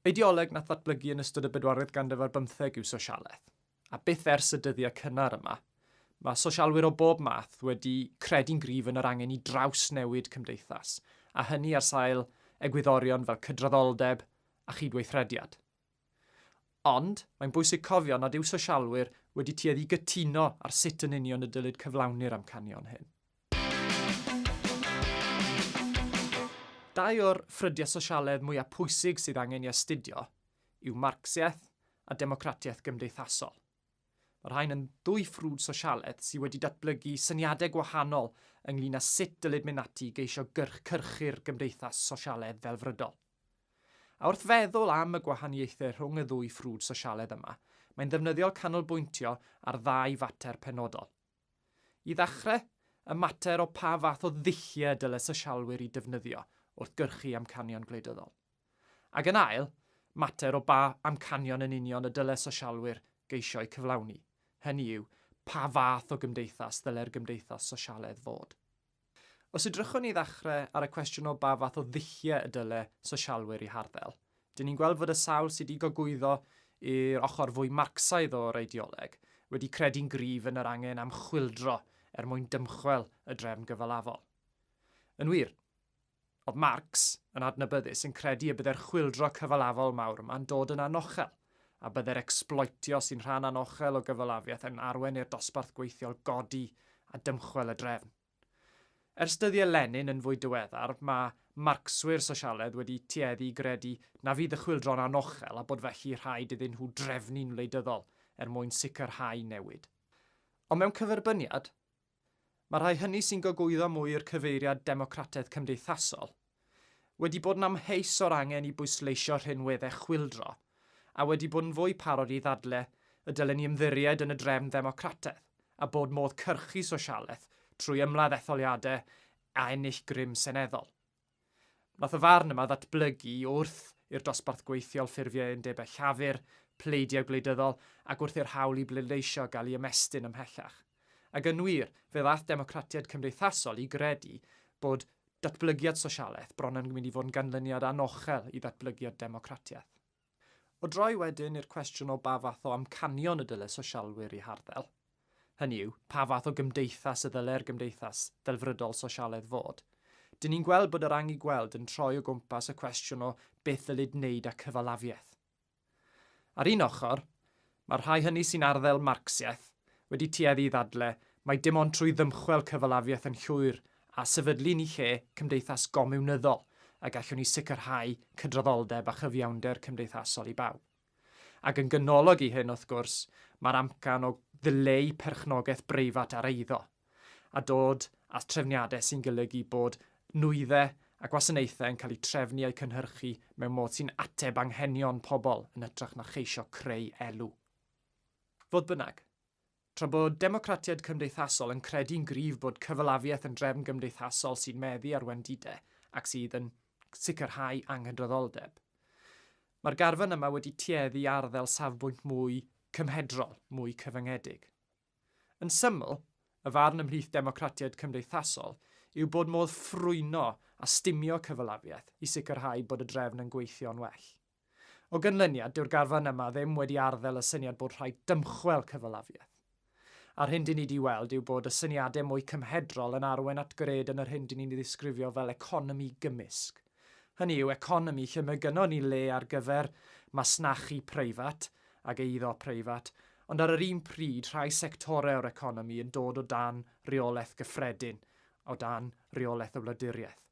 Ideoleg nath ddatblygu yn ystod y bedwaredd ganrif ar bymtheg yw sosialaeth, a byth ers y dyddiau cynnar yma, mae sosialwyr o bob math wedi credu'n gryf yn yr angen i drawsnewid cymdeithas, a hynny ar sail egwyddorion fel cydraddoldeb a chydweithrediad. Ond, mae'n bwysig cofio nad yw sosialwyr wedi tueddu i gytuno ar sut yn union y dylid cyflawni'r amcanion hyn. Dau o'r ffrydiau sosialedd mwyaf pwysig sydd angen ei astudio yw Marcsiaeth a Democratiaeth Gymdeithasol. Mae'r rhain yn ddwy ffrwd sosialedd sydd wedi datblygu syniadau gwahanol ynglŷn â sut dylid mynd ati i geisio cyrchu'r gymdeithas sosialedd ddelfrydol. A wrth feddwl am y gwahaniaethau rhwng y ddwy ffrwd sosialedd yma, mae'n ddefnyddiol canolbwyntio ar ddau fater penodol. I ddechrau, y mater o pa fath o ddulliau dyle sosialwyr i defnyddio wrth gyrchu amcanion gwleidyddol. Ac yn ail, mater o ba amcanion yn union y dyle sosialwyr geisio eu cyflawni, hynny yw, pa fath o gymdeithas ddyle'r gymdeithas sosialedd fod. Os edrychwn ni i ddechrau ar y cwestiwn o ba fath o ddulliau y dyle sosialwyr i harddel, dyn ni'n gweld fod y sawl sydd wedi gogwyddo i'r ochr fwy Marcsaidd o'r eideoleg wedi credu'n gryf yn yr angen am chwyldro er mwyn dymchwel y drefn gyfalafol. Yn wir, Oedd Marx yn adnabyddus yn credu y byddai'r chwyldro cyfalafol mawr yma'n dod yn anochel, a byddai'r ecsbloetio sy'n rhan anochel o gyfalafiaeth yn arwain i'r dosbarth gweithiol godi a dymchwel y drefn. Ers dyddiau Lenin yn fwy diweddar, mae Marcswyr sosialedd wedi tueddu i gredu na fydd y chwyldro'n anochel a bod felly rhaid iddyn nhw drefnu'n wleidyddol er mwyn sicrhau newid. Ond mewn cyferbyniad, Mae rhai hynny sy'n gogwyddo mwy i'r cyfeiriad democratedd cymdeithasol wedi bod yn amheus o'r angen i bwysleisio rhinweddau chwyldro a wedi bod yn fwy parod i ddadle y dylen ni ymddiried yn y drefn ddemocratedd a bod modd cyrchu sosialaeth trwy ymladd etholiadau a ennill grym seneddol. Wnaeth y farn yma ddatblygu i wrth i'r dosbarth gweithiol ffurfio undebau llafur, pleidiau gwleidyddol ac wrth i'r hawl i bleidleisio gael ei ymestyn ymhellach. Ac yn wir, fe ddaeth democratiaid cymdeithasol i gredu bod datblygiad sosialaeth bron yn mynd i fod yn ganlyniad anochel i ddatblygiad democratiaeth. O droi wedyn i'r cwestiwn o ba fath o amcanion y dyle sosialwyr eu harddel, hynny yw, pa fath o gymdeithas y ddyle'r gymdeithas ddelfrydol sosialedd fod, dyn ni'n gweld bod yr anghigweld yn troi o gwmpas y cwestiwn o beth ddylid wneud â cyfalafiaeth. Ar un ochr, Mae'r rhai hynny sy'n arddel Marcsiaeth wedi tueddu i ddadle mai dim ond trwy ddymchwel cyfalafiaeth yn llwyr a sefydlu ni lle cymdeithas gomiwnyddol y gallwn ni sicrhau cydraddoldeb a chyfiawnder cymdeithasol i bawb. Ac yn ganolog i hyn, wrth gwrs, mae'r amcan o ddileu perchnogaeth breifat ar eiddo. a dod â threfniadau sy'n golygu bod nwyddau a gwasanaethau yn cael eu trefnu a'u cynhyrchu mewn modd sy'n ateb anghenion pobl yn hytrach na cheisio creu elw. Fodd bynnag, tra bod democratiaid cymdeithasol yn credu'n gryf bod cyfalafiaeth yn drefn gymdeithasol sy'n meddu ar wendidau ac sydd yn sicrhau anghydraddoldeb, mae'r garfan yma wedi tueddu i arddel safbwynt mwy cymhedrol, mwy cyfyngedig. Yn syml, y farn ymhlith democratiaid cymdeithasol yw bod modd ffrwyno a stumio cyfalafiaeth i sicrhau bod y drefn yn gweithio'n well. O ganlyniad, dyw'r garfan yma ddim wedi arddel y syniad bod rhaid dymchwel cyfalafiaeth. A'r hyn dyn ni wedi weld yw bod y syniadau mwy cymhedrol yn arwain at gred yn yr hyn dyn ni'n ei ddisgrifio fel economi gymysg. hynny yw economi lle mae gynnon ni le ar gyfer masnachu preifat ac eiddo preifat, ond ar yr un pryd rhai sectorau o'r economi yn dod o dan reolaeth gyffredin, o dan reolaeth y wladwriaeth.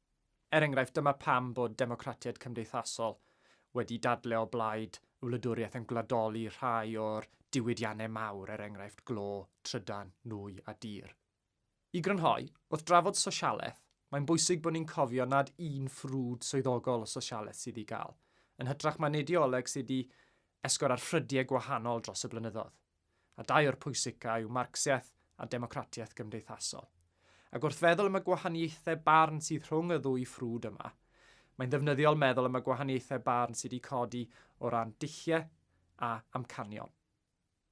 Er enghraifft, dyma pam bod democratiaid cymdeithasol wedi dadle o blaid y wladwriaeth yn gwladoli rhai o'r diwydiannau mawr, er enghraifft, glo, trydan, nwy a dir. I grynhoi, wrth drafod sosialaeth, mae'n bwysig bod ni'n cofio nad un ffrwd swyddogol o sosialaeth sydd i gael, yn hytrach mae'n eideoleg sydd wedi esgor ar ffrydiau gwahanol dros y blynyddoedd, a dau o'r pwysica yw Marcsiaeth a democratiaeth gymdeithasol. Ac wrth feddwl am y gwahaniaethau barn sydd rhwng y ddwy ffrwd yma, mae'n ddefnyddiol meddwl am y gwahaniaethau barn sydd wedi codi o ran dulliau a amcanion.